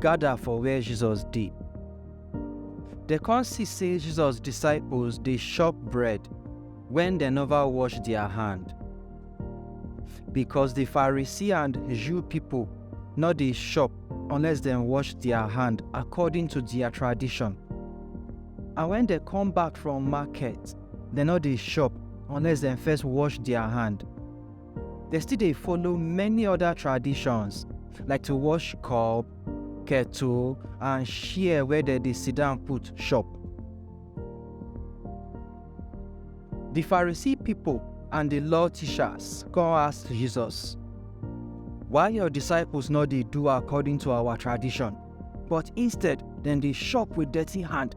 gada for where Jesus dey. Dem kon si sey Jesus disciples dey shop bread wen dem nova wash dia hand. Bikos di Pharisee and Jew pipol nor dey shop unless dem wash dia hand akordin to dia tradishon. And wen dem kom back from maket, dem nor dey shop unless dem first wash dia hand. Dem still dey follow many other traditions like to wash cup, kettle and chair where dem dey sit down put chop. The Pharisee people and the law teachers come ask Jesus, Why your disciples no dey do according to our tradition, but instead dem dey chop with dirty hand?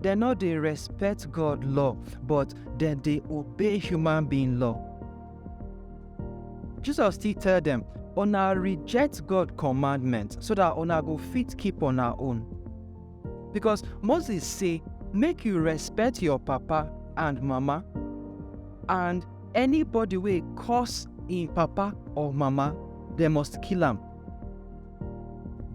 Dem no dey respect God law, but dem dey obey human being law. Jesus still tell dem, Una reject God commandment so that una go fit keep una own. Because Moses say, Make you respect your papa and mama, and anybody wey curse im papa or mama, dem must kill am.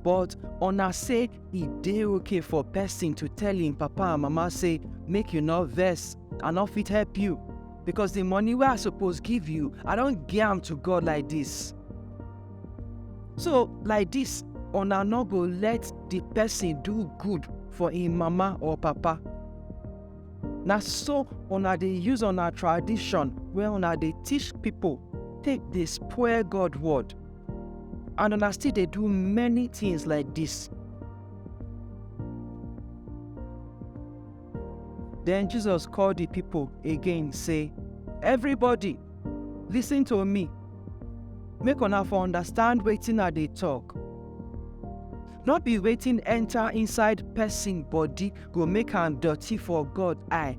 But una say e dey okay for person to tell him papa and mama say make you no vex i no fit help you because the money wey i suppose give you i don give am to god like this so like this una no go let the person do good for him mama or papa na so una dey use una tradition wey una dey teach people take dey spoil god word and una still dey do many things like this. Then Jesus called the people again, say, Everybody, listen to me. Make una for understand wetin I dey talk. No be wetin enter inside person body go make am dirty for God eye.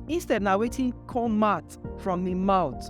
Instead na wetin come out from im mouth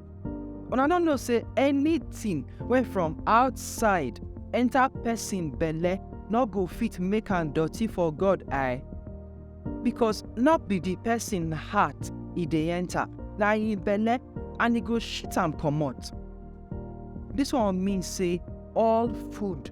Una no know say anything wey from outside enter person belle no go fit make am dirty for God eye? Because no be the person heart e dey enter, na im belle and e go shit am comot. This one mean say all food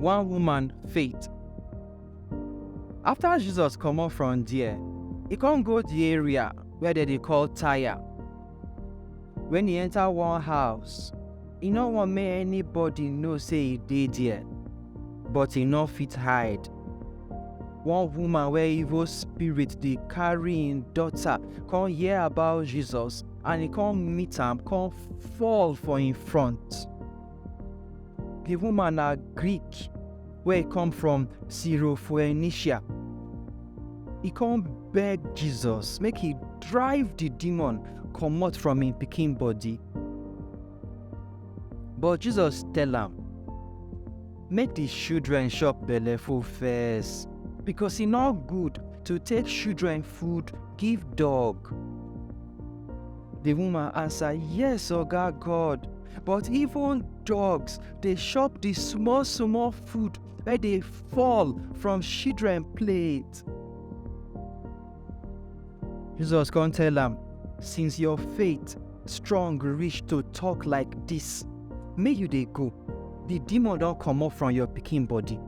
one woman faith. After Jesus comot from there, he come go the area where they dey call Tyre. When he enter one house, he no want make anybody know say he dey there, but he no fit hide. One woman wey evil spirit dey carry im daughter come hear about Jesus and he come meet am come fall for im front di woman na greek wey come from syrophoenicia e come beg jesus make he drive di demon comot from im pikin body but jesus tell am make di children chop belleful first because e no good to take children food give dog. The woman answer, Yes, Oga God, but even dogs dey chop the small small food wey dey fall from children plate. Jesus come tell am, Since your faith strong reach to talk like this, make you dey go. The demon don comot from your pikin body.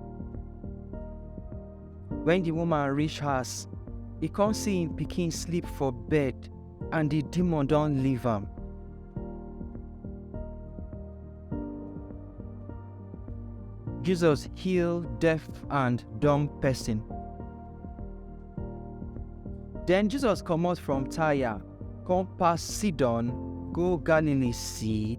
When the woman reach house, he come see him pikin sleep for bed and the demon don leave am. Jesus heal deaf and dumb person. Then Jesus comot from Tyre, come pass Sidon, go Galilee see.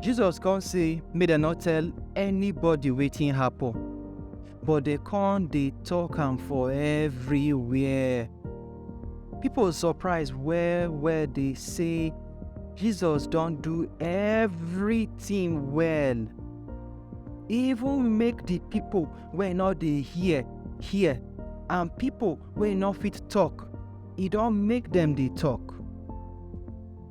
Jesus come say make dem no tell anybody wetin happen, but dem come dey talk am for everywhere. People surprise well well dey say Jesus don do everything well. Even make the people wey no dey hear hear and people wey no fit talk, e don make dem dey talk.